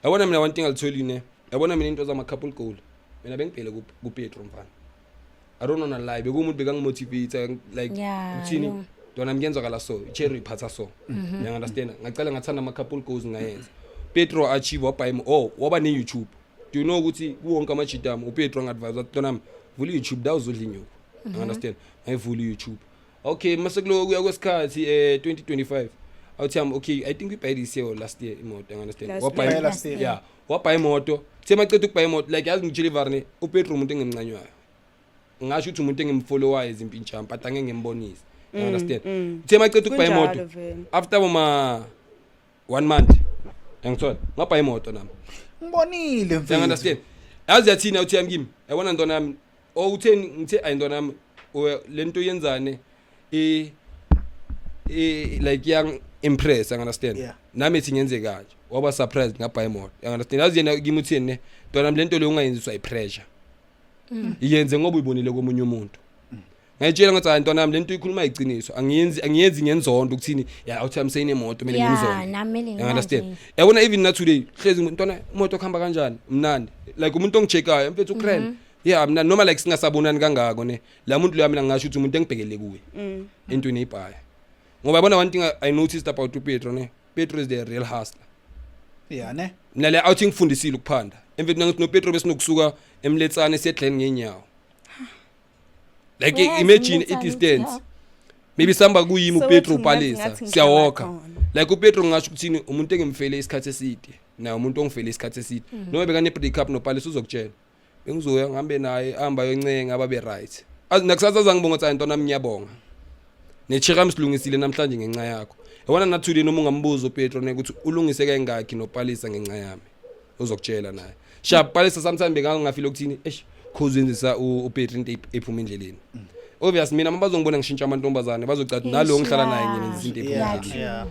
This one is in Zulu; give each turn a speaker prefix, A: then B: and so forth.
A: yabona mina one thing alitholi ne yabona mina into zama couple goal mina bengibhele ku Petro mfana i don't wanna lie bekumuntu bekangimotivate like uthini yeah, yona ngiyenzakala so cherry phatha so mhm. ngiya understand ngacela ngathanda ama couple goals ngayenza Petro achieve wabhayi oh waba ne YouTube do you know ukuthi kuwonke ama cheat ami uPetro ngadvise ukuthi tonami vula YouTube dawuzodla inyoko mhm. understand ngayivula YouTube okay mase kuloku kuya kwesikhathi eh 2025 awuthi yami okay i think we buy this year or last year imoto i understand Last Wabhaya- year. Last year. yeah wabhaya imoto kuthe macethe ukubhaya imoto like yazi ngitshela ivarne upetro umuntu engimncanywayo ngasho ukuthi umuntu engimfollowayo ezimpintshami but angeke ngimbonise you understand kuthe macethe ukubhaya Mm, Kunjalo imoto vele. after boma one month yangithola ngabhaya imoto nami ngibonile
B: mfethu. yangandastand yazi
A: yathini awuthi yami kimi yabona ntwana yami o utheni ngithe ayi ntwana yami le nto yenzane i like yang impress you understand yeah. nami ethi ngenze kanje waba surprised ngabha imoto you understand yazi yena kimi uthini ne ntwana le nto leyo ungayenziswa i-pressure mm. iyenze ngoba uyibonile komunye umuntu mm. ngayitshela ngathi hayi ntwana yami le nto ikhuluma iqiniso angiyenzi angiyenzi ngenzondo ukuthini ya awuthi am saying imoto mina ngimzondo you understand yabona even na today hlezi ntwana imoto kuhamba kanjani mnandi like umuntu ongicheckayo mfethu ukrand mm -hmm. yeah mina noma like singasabonani kangako ne la muntu loya mina ngingasho ukuthi umuntu engibhekele kuwe mm. entweni ibhaya ngoba yabona one thing I, i noticed about Pedro ne Pedro is the real hustler yeah ne
B: mina le outing
A: ngifundisile ukuphanda emveni nangithi no Pedro besinokusuka emletsane siyedleni ngenyawo like yes, imagine it is dance yeah. maybe samba kuyimi so uPetro upalisa siyawokha like uPetro ngasho ukuthini umuntu engimfele isikhathi eside naye umuntu ongifele isikhathi eside mm -hmm. noma bekane break up nopalisa uzokutshela bengizoya ngihambe naye ahamba ayoncenga ababe right nakusasa zangibonga ukuthi ayintwana mnyabonga necheka msilungisile namhlanje ngenxa yakho yabona nathule noma ungambuza upetro ne ukuthi ulungise kangakhi nopalisa ngenxa yami uzokutshela naye sha palisa sometimes bekangafile ukuthini eish cause wenzisa upetro into ephuma endleleni obvious mina uma bazongibona ngishintsha amantombazane bazocatha nalo ngihlala naye ngiyenza into ephuma endleleni